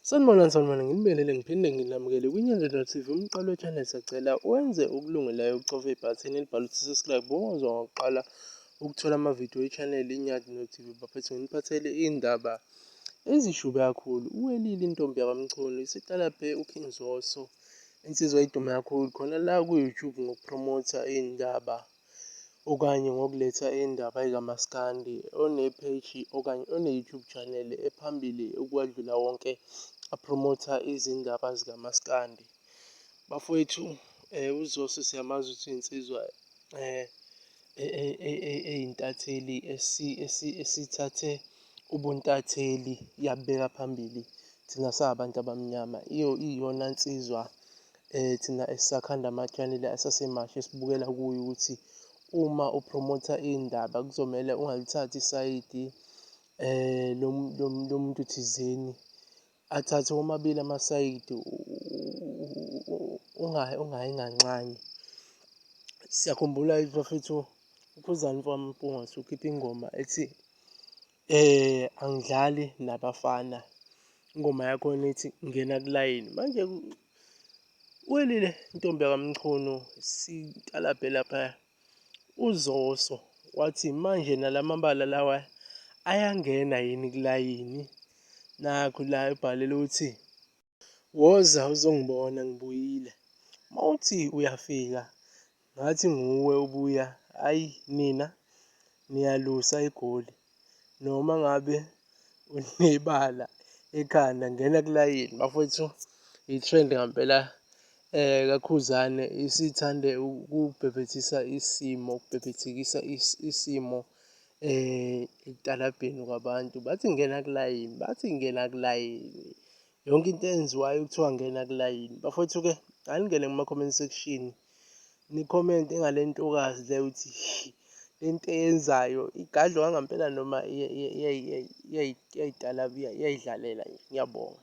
Sanibonani sanibonani nginibelele ngiphinde nginamukele kwiNyanzelo TV umqalo channel sacela wenze okulungelayo ukucofa ibhathini elibhala ukuthi subscribe bongozwa ngokuqala ukuthola amavidiyo e-channel iNyadi no-TV baphethe nginiphathele iy'ndaba ezishube kakhulu uwelile intombi yakwamchunu isiqala phe uking zoso insizwa idume kakhulu khona la ku-youtube ngokuphromotha iy'ndaba okanye ngokuletha indaba ekaMaskandi onepheji okanye one-YouTube channel ephambili ukwadlula wonke aphromotha izindaba zikaMaskandi. Bafowethu um uZoso siyamazi ukuthi insizwa um eyintatheli esithathe ubuntatheli yabubeka phambili thina sabantu abamnyama. Iyona nsizwa Eh thina esisakhanda ama-channel asasemasha esibukela kuyo ukuthi uma upromotha iy'ndaba kuzomele ungalithathi isayidi eh lomuntu thizeni athathe womabili amasayidi ungayi nganxanye. Siyakhumbula ukuthi bafethu uKhuzani mfowami uMpungose ukhiphe ingoma ethi eh angidlali nabafana ingoma yakhona ithi ngena kulayini manje Welile ntombi yakamchunu sitalabhe lapha uzoso wathi manje nalamabala lawa ayangena yini kulayini nakho la ebhalele ukuthi woza uzongibona ngibuyile mawuthi uyafika Ngathi nguwe ubuya ayi nina niyalusa igoli noma ngabe unebala ekhanda ngena kulayini bafowethu i-trend ngampela eh kakhuzane isithande ukubhebhethisa isimo ukubhebhethekisa isimo eh ekutalabheni kwabantu bathi ngena kulayini bathi ngena kulayini. yonke into eyenziwayo kuthiwa ngena kulayini bafowethu ke aningene kuma comment section ni comment engalentokazi le uthi lento eyenzayo igadlo kangampela noma iyayidala iyayidlalela ngiyabonga